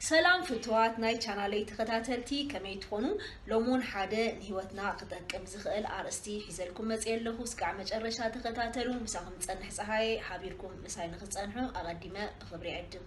ሰላም ፍትዋት ናይ ቻናለይ ተኸታተልቲ ከመይ ትኾኑ ሎሞን ሓደ ንህይወትና ክጠቅም ዝኽእል ኣርእስቲ ሒዘልኩም መፅየ ኣለኹ እስካዕ መጨረሻ ተኸታተሉ ምሳኹም ፀንሕ ፀሃየ ሓቢርኩም ምሳይ ንክፀንሑ ኣቐዲመ ብኽብሪ ዕድም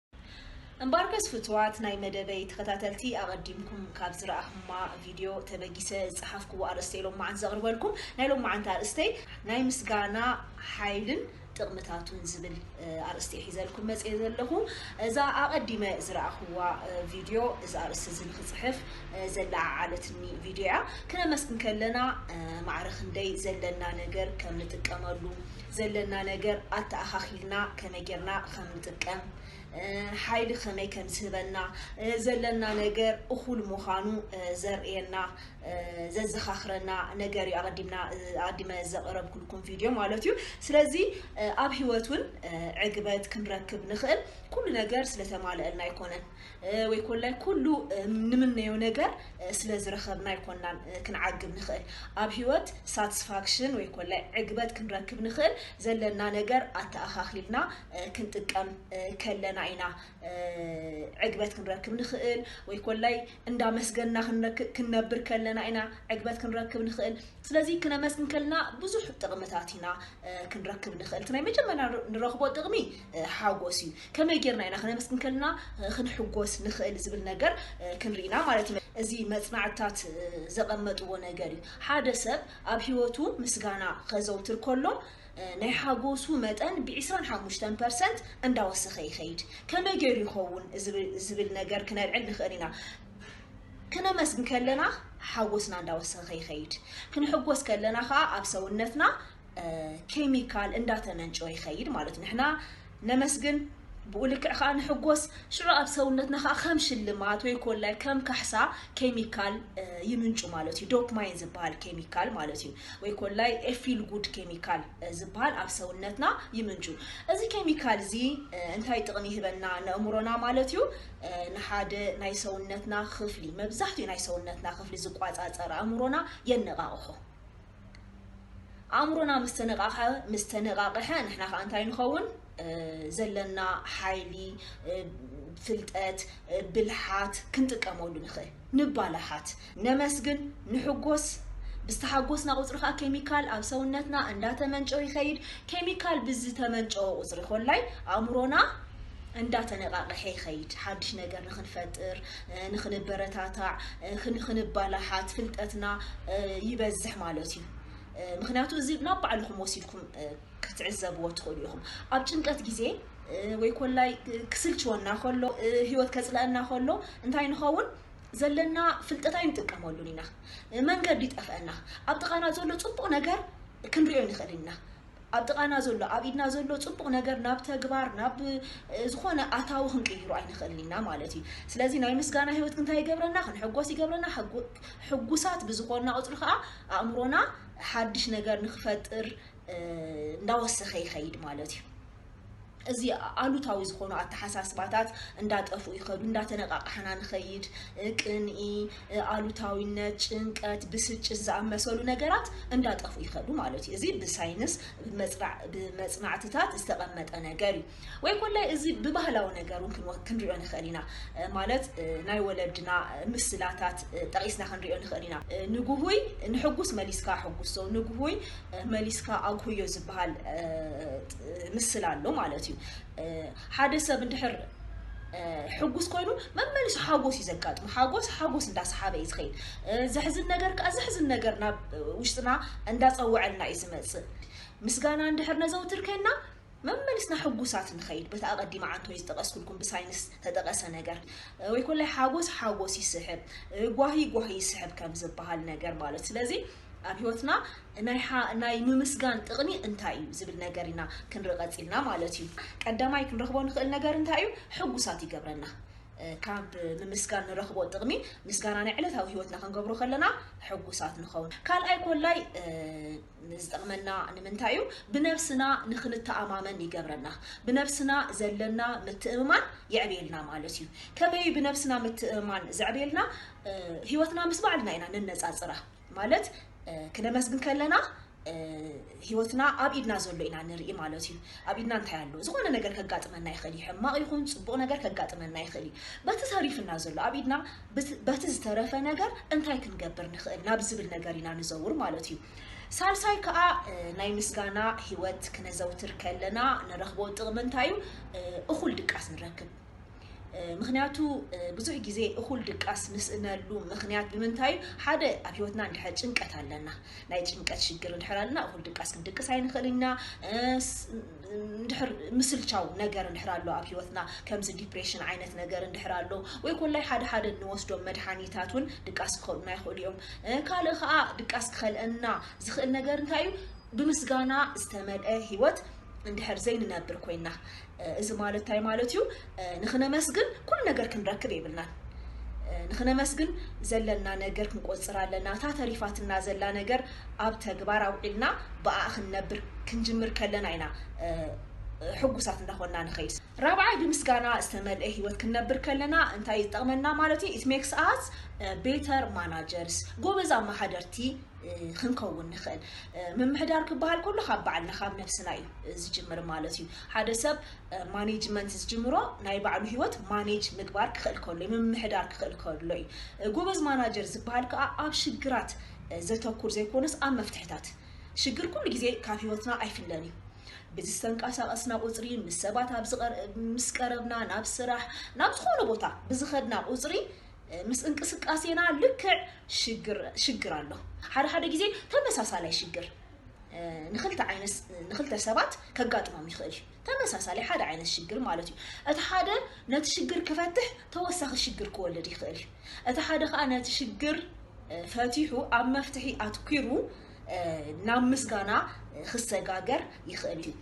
እምበኣርከስ ፍቱዋት ናይ መደበይ ተኸታተልቲ ኣቐዲምኩም ካብ ዝረኣኹማ ቪድዮ ተበጊሰ ዝጸሓፍኩዎ ኣርእስተይ ሎምዓንቲ ዘቕርበልኩም። ናይ ሎምዓንቲ ኣርእስተይ ናይ ምስጋና ሓይልን ጥቕምታቱን ዝብል ኣርእስቲ'የ ሒዘልኩም መጺኤ ዘለኹ። እዛ ኣቐዲመ ዝረኣኹዋ ቪድዮ እዚ ኣርእስቲ'ዚ ንኽጽሕፍ ዘለዓዓለትኒ ቪድዮ'ያ። ክነመስግን ከለና ማዕረ ክንደይ ዘለና ነገር ከም ንጥቀመሉ፣ ዘለና ነገር ኣተኣኻኺልና ከመይ ጌርና ከም ንጥቀም፣ ሓይሊ ከመይ ከም ዝህበና፣ ዘለና ነገር እኹል ምዃኑ ዘርእየና፣ ዘዘኻኽረና ነገር እዩ ኣቐዲምና ኣቐዲመ ዘቕረብኩልኩም ቪድዮ ማለት እዩ። ስለዚ ኣብ ህይወት እውን ዕግበት ክንረክብ ንኽእል ኩሉ ነገር ስለተማልአልና ኣይኮነን። ወይ ኮላይ ኩሉ ንምነዮ ነገር ስለ ዝረኸብና ኣይኮናን ክንዓግብ ንኽእል። ኣብ ህይወት ሳትስፋክሽን ወይ ኮላይ ዕግበት ክንረክብ ንኽእል ዘለና ነገር ኣተኣኻኽሊልና ክንጥቀም ከለና ኢና ዕግበት ክንረክብ ንኽእል ወይ ኮላይ እንዳመስገንና ክንነብር ከለና ኢና ዕግበት ክንረክብ ንኽእል። ስለዚ ክነመስግን ከለና ብዙሕ ጥቕምታት ኢና ክንረክብ ንኽእል። እቲ ናይ መጀመርያ ንረኽቦ ጥቕሚ ሓጎስ እዩ ከመይ ጌርና ኢና ክነመስግን ከለና ክንሕጎስ ንኽእል ዝብል ነገር ክንርኢና ማለት እዩ እዚ መጽናዕትታት ዘቐመጥዎ ነገር እዩ ሓደ ሰብ ኣብ ህይወቱ ምስጋና ከዘውትር ከሎ ናይ ሓጎሱ መጠን ብ25 ፐርሰንት እንዳወሰኸ ይኸይድ ከመይ ገይሩ ይኸውን ዝብል ነገር ክነልዕል ንኽእል ኢና ክነመስግን ከለና ሓጎስና እንዳወሰኸ ይኸይድ ክንሕጎስ ከለና ከዓ ኣብ ሰውነትና ኬሚካል እንዳተመንጨወ ይኸይድ ማለት እዩ። ንሕና ነመስግን ብኡ ልክዕ ከዓ ንሕጎስ ሽዑ ኣብ ሰውነትና ከዓ ከም ሽልማት ወይ ኮላይ ከም ካሕሳ ኬሚካል ይምንጩ ማለት እዩ ዶፕማይን ዝበሃል ኬሚካል ማለት እዩ ወይ ኮላይ ኤፊል ጉድ ኬሚካል ዝበሃል ኣብ ሰውነትና ይምንጩ እዚ ኬሚካል እዚ እንታይ ጥቕሚ ይህበና ንእምሮና ማለት እዩ ንሓደ ናይ ሰውነትና ክፍሊ መብዛሕትኡ ናይ ሰውነትና ክፍሊ ዝቋፃፀር ኣእምሮና የነቃቕሖ ኣእምሮና ምስ ተነቓቐሐ ምስ ተነቓቐሐ ንሕና ከዓ እንታይ ንኸውን ዘለና ሓይሊ ፍልጠት ብልሓት ክንጥቀመሉ ንኽእል ንባላሓት ነመስግን ንሕጎስ ብዝተሓጎስና ቁፅሪ ከዓ ኬሚካል ኣብ ሰውነትና እንዳተመንጨው ይኸይድ ኬሚካል ብዝተመንጨወ ቁፅሪ ኮላይ ኣእምሮና እንዳተነቃቀሐ ይኸይድ ሓድሽ ነገር ንክንፈጥር ንክንበረታታዕ ክንባላሓት ፍልጠትና ይበዝሕ ማለት እዩ ምክንያቱ እዚ ናብ ባዕልኹም ወሲድኩም ክትዕዘብዎ ትኽእሉ ኢኹም ኣብ ጭንቀት ግዜ ወይ ኮላይ ክስልችወና ከሎ ህይወት ከፅለአና ከሎ እንታይ ንኸውን ዘለና ፍልጠት ኣይንጥቀመሉን ኢና መንገዲ ይጠፍአና ኣብ ጥቓና ዘሎ ፅቡቕ ነገር ክንሪኦ ንኽእል ኢና ኣብ ጥቓና ዘሎ፣ ኣብ ኢድና ዘሎ ጽቡቕ ነገር ናብ ተግባር፣ ናብ ዝኾነ ኣታዊ ክንቅይሮ ኣይንኽእልን ኢና ማለት እዩ። ስለዚ ናይ ምስጋና ህይወት ግን እንታይ ይገብረና? ክንሕጎስ ይገብረና። ሕጉ ሕጉሳት ብዝኾንና ቁጽሪ ከኣ ኣእምሮና ሓድሽ ነገር ንክፈጥር እንዳወሰኸ ይኸይድ ማለት እዩ። እዚ ኣሉታዊ ዝኾኑ ኣተሓሳስባታት እንዳጠፍኡ ይኸዱ፣ እንዳተነቓቓሕና ንኸይድ። ቅንኢ፣ ኣሉታዊነት፣ ጭንቀት፣ ብስጭት ዝኣመሰሉ ነገራት እንዳጠፍኡ ይኸዱ ማለት እዩ። እዚ ብሳይንስ ብመጽናዕትታት ዝተቐመጠ ነገር እዩ። ወይ ኮላይ እዚ ብባህላዊ ነገር እውን ክንሪኦ ንኽእል ኢና። ማለት ናይ ወለድና ምስላታት ጠቒስና ክንሪኦ ንኽእል ኢና። ንጉሁይ ንሕጉስ መሊስካ ኣሕጉሶ፣ ንጉሁይ መሊስካ ኣጉህዮ ዝበሃል ምስላ ኣሎ ማለት እዩ። ሓደ ሰብ እንድሕር ሕጉስ ኮይኑ መመሊሱ ሓጎስ እዩ ዘጋጥሙ ሓጎስ ሓጎስ እንዳሰሓበ እዩ ዝኸይድ ዘሕዝን ነገር ከዓ ዘሕዝን ነገር ናብ ውሽጥና እንዳፀወዐልና እዩ ዝመፅእ ምስጋና እንድሕር ነዘውትር ከይና መመሊስና ሕጉሳት ንኸይድ በቲ ኣቐዲመ ዓንቶ እዩ ዝጠቀስኩልኩም ብሳይንስ ተጠቀሰ ነገር ወይ ኮላይ ሓጎስ ሓጎስ ይስሕብ ጓሂ ጓሂ ይስሕብ ከም ዝበሃል ነገር ማለት ስለዚ ኣብ ህይወትና ናይ ሓ ናይ ምምስጋን ጥቕሚ እንታይ እዩ ዝብል ነገር ኢና ክንርኢ ቀጺልና ማለት እዩ። ቀዳማይ ክንረኽቦ ንኽእል ነገር እንታይ እዩ? ሕጉሳት ይገብረና። ካብ ምምስጋን ንረኽቦ ጥቕሚ ምስጋና ናይ ዕለታዊ ህይወትና ክንገብሮ ከለና ሕጉሳት ንኸውን። ካልኣይ ኮላይ ዝጠቕመና ንምንታይ እዩ? ብነብስና ንኽንተኣማመን ይገብረና። ብነብስና ዘለና ምትእምማን የዕብየልና ማለት እዩ። ከመይ እዩ ብነብስና ምትእምማን ዘዕብየልና? ህይወትና ምስ ባዕልና ኢና ነነጻጽራ ማለት ክነመስግን ከለና ህይወትና ኣብ ኢድና ዘሎ ኢና ንርኢ ማለት እዩ ኣብ ኢድና እንታይ ኣሎ ዝኾነ ነገር ከጋጥመና ይኽእል እዩ ሕማቕ ይኹን ፅቡቕ ነገር ከጋጥመና ይኽእል እዩ በቲ ተሪፍና ዘሎ ኣብ ኢድና በቲ ዝተረፈ ነገር እንታይ ክንገብር ንኽእል ናብ ዝብል ነገር ኢና ንዘውር ማለት እዩ ሳልሳይ ከዓ ናይ ምስጋና ህይወት ክነዘውትር ከለና ንረኽቦ ጥቕሚ እንታይ እዩ እኹል ድቃስ ንረክብ ምክንያቱ ብዙሕ ግዜ እኹል ድቃስ ንስእነሉ ምክንያት ብምንታይ እዩ? ሓደ ኣብ ህይወትና እንድሕር ጭንቀት ኣለና ናይ ጭንቀት ሽግር እንድሕር ኣለና እኹል ድቃስ ክንድቅስ ኣይንኽእልን ኢና። እንድሕር ምስልቻው ነገር እንድሕር ኣሎ ኣብ ህይወትና ከምዚ ዲፕሬሽን ዓይነት ነገር እንድሕር ኣሎ ወይ ኮላይ ሓደ ሓደ እንወስዶም መድሓኒታት እውን ድቃስ ክኸልኡና ይኽእሉ እዮም። ካልእ ከዓ ድቃስ ክኸልአና ዝኽእል ነገር እንታይ እዩ? ብምስጋና ዝተመልአ ህይወት እንድሕር ዘይንነብር ኮይና እዚ ማለት ታይ ማለት እዩ ንክነመስግን ኩሉ ነገር ክንረክብ የብልናን ንክነመስግን ዘለና ነገር ክንቆፅር ኣለና እታ ተሪፋትና ዘላ ነገር ኣብ ተግባር ኣውዒልና ብኣኣ ክንነብር ክንጅምር ከለና ኢና ሕጉሳት እንዳኾንና ንኸይድ ራብዓይ ብምስጋና ዝተመልኤ ህይወት ክንነብር ከለና እንታይ እዩ ዝጠቕመና ማለት እዩ it makes us uh, better managers ጎበዝ ኣመሓደርቲ ክንከውን ንኽእል ምምሕዳር ክበሃል ከሎ ካብ ባዕልና ካብ ነብስና እዩ ዝጅምር ማለት እዩ ሓደ ሰብ ማኔጅመንት ዝጅምሮ ናይ ባዕሉ ህይወት ማኔጅ ምግባር ክኽእል ከሎ እዩ፣ ምምሕዳር ክኽእል ከሎ እዩ። ጎበዝ ማናጀር ዝበሃል ከኣ ኣብ ሽግራት ዘተኩር ዘይኮነስ ኣብ መፍትሕታት። ሽግር ኩሉ ግዜ ካብ ህይወትና ኣይፍለን እዩ። ብዝተንቀሳቐስና ቁጽሪ፣ ምስ ሰባት ኣብ ምስ ቀረብና፣ ናብ ስራሕ፣ ናብ ዝኾነ ቦታ ብዝኸድና ቁጽሪ፣ ምስ እንቅስቃሴና ልክዕ ሽግር ሽግር ኣሎ። ሓደ ሓደ ግዜ ተመሳሳላይ ሽግር። ንክልተ ዓይነት ንክልተ ሰባት ከጋጥሞም ይኽእል እዩ ተመሳሳሊ ሓደ ዓይነት ሽግር ማለት እዩ እቲ ሓደ ነቲ ሽግር ክፈትሕ ተወሳኺ ሽግር ክወልድ ይኽእል እዩ እቲ ሓደ ከዓ ነቲ ሽግር ፈቲሑ ኣብ መፍትሒ ኣትኪሩ ናብ ምስጋና ክሰጋገር ይኽእል እዩ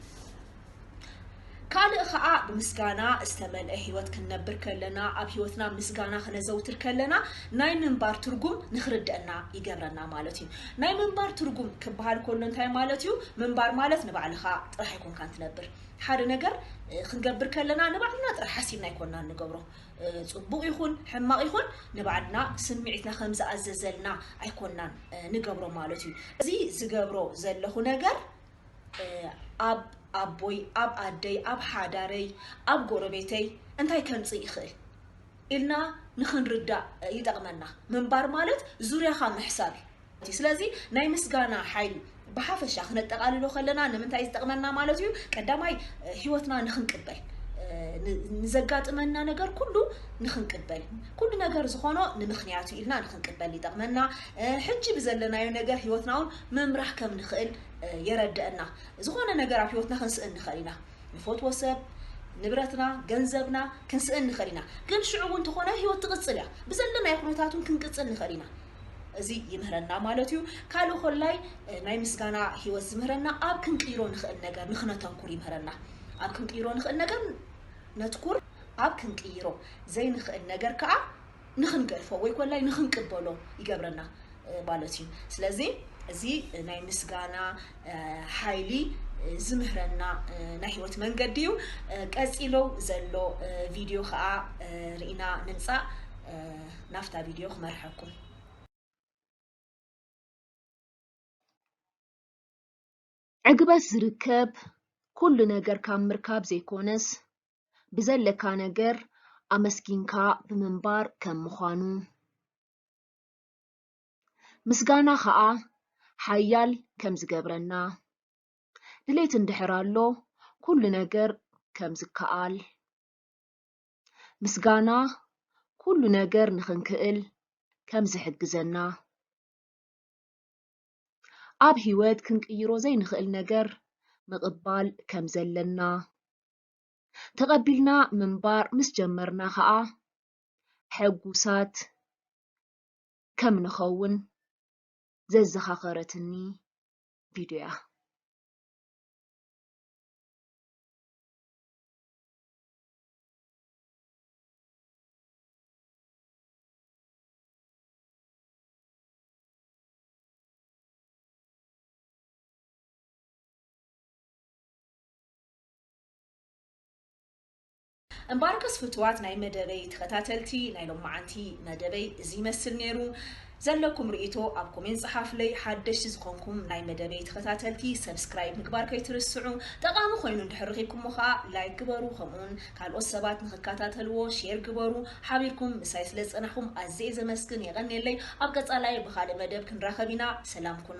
ካልእ ኸኣ ብምስጋና ዝተመልአ ህይወት ክንነብር ከለና፣ ኣብ ህይወትና ምስጋና ክነዘውትር ከለና ናይ ምንባር ትርጉም ንኽርደኣና ይገብረና ማለት እዩ። ናይ ምንባር ትርጉም ክበሃል ከሎ እንታይ ማለት እዩ? ምንባር ማለት ንባዕልኻ ጥራሕ ኣይኮንካን ትነብር። ሓደ ነገር ክንገብር ከለና ንባዕልና ጥራሕ ሓሲብና ኣይኮናን ንገብሮ። ጽቡቕ ይኹን ሕማቕ ይኹን ንባዕልና ስምዒትና ከም ዝኣዘዘልና ኣይኮናን ንገብሮ ማለት እዩ። እዚ ዝገብሮ ዘለኹ ነገር ኣብ ኣቦይ፣ ኣብ ኣደይ፣ ኣብ ሓዳረይ፣ ኣብ ጎረቤተይ እንታይ ከምጽእ ይኽእል ኢልና ንኽንርዳእ ይጠቕመና። ምንባር ማለት ዙርያኻ ምሕሳብ እዩ። ስለዚ ናይ ምስጋና ሓይሊ ብሓፈሻ ክነጠቓልሎ ከለና ንምንታይ እዩ ዝጠቕመና ማለት እዩ? ቀዳማይ ህይወትና ንኽንቅበል ንዘጋጥመና ነገር ኩሉ ንኽንቅበል ኩሉ ነገር ዝኾኖ ንምኽንያት ኢልና ንኽንቅበል ይጠቕመና ሕጂ ብዘለናዮ ነገር ህይወትና እውን ምምራሕ ከም ንኽእል የረደእና ዝኾነ ነገር ኣብ ሂወትና ክንስእን ንኽእል ኢና ንፈትዎ ሰብ ንብረትና ገንዘብና ክንስእን ንኽእል ኢና ግን ሽዑ እውን ተኾነ ሂወት ትቕጽል እያ ብዘለናዮ ኩነታት እውን ክንቅጽል ንኽእል ኢና እዚ ይምህረና ማለት እዩ ካልእ ኮላይ ናይ ምስጋና ሂወት ዝምህረና ኣብ ክንቅይሮ ንኽእል ነገር ንኽነተኩር ይምህረና ኣብ ክንቅይሮ ንኽእል ነገር ነትኩር ኣብ ክንቅይሮ ዘይንኽእል ነገር ከዓ ንኽንገድፎ ወይ ኮላይ ንኽንቅበሎ ይገብረና ማለት እዩ። ስለዚ እዚ ናይ ምስጋና ሓይሊ ዝምህረና ናይ ህይወት መንገዲ እዩ። ቀጺሎ ዘሎ ቪድዮ ከዓ ርኢና ንምጻእ ናፍታ ቪድዮ ክመርሐኩም። ዕግበት ዝርከብ ኩሉ ነገር ካብ ምርካብ ዘይኮነስ ብዘለካ ነገር ኣመስጊንካ ብምንባር ከም ምዃኑ፣ ምስጋና ኸኣ ሓያል ከም ዝገብረና፣ ድሌት እንድሕር ኣሎ ኩሉ ነገር ከም ዝከኣል፣ ምስጋና ኩሉ ነገር ንኽንክእል ከም ዝሕግዘና፣ ኣብ ህይወት ክንቅይሮ ዘይንኽእል ነገር ምቕባል ከም ዘለና፣ ተቐቢልና ምንባር ምስ ጀመርና ኸኣ ሕጉሳት ከም ንኸውን ዘዘኻኸረትኒ ቪድዮ እያ። እምበኣርከስ ፍቱዋት ናይ መደበይ ተኸታተልቲ ናይ ሎምዓንቲ መደበይ እዚ ይመስል ነይሩ። ዘለኩም ርእይቶ ኣብ ኮሜንት ጸሓፉለይ። ሓደሽቲ ዝኾንኩም ናይ መደበይ ተኸታተልቲ ሰብስክራይብ ምግባር ከይትርስዑ። ጠቓሚ ኮይኑ እንድሕር ረኺብኩሞ ከኣ ላይክ ግበሩ ከምኡውን ካልኦት ሰባት ንኽከታተልዎ ሼር ግበሩ። ሓቢርኩም ምሳይ ስለ ዝጸናሕኩም ኣዝየ እየ ዘመስግን የቐንየለይ። ኣብ ቀጻላይ ብኻልእ መደብ ክንራኸብ ኢና ሰላም ኩኑ።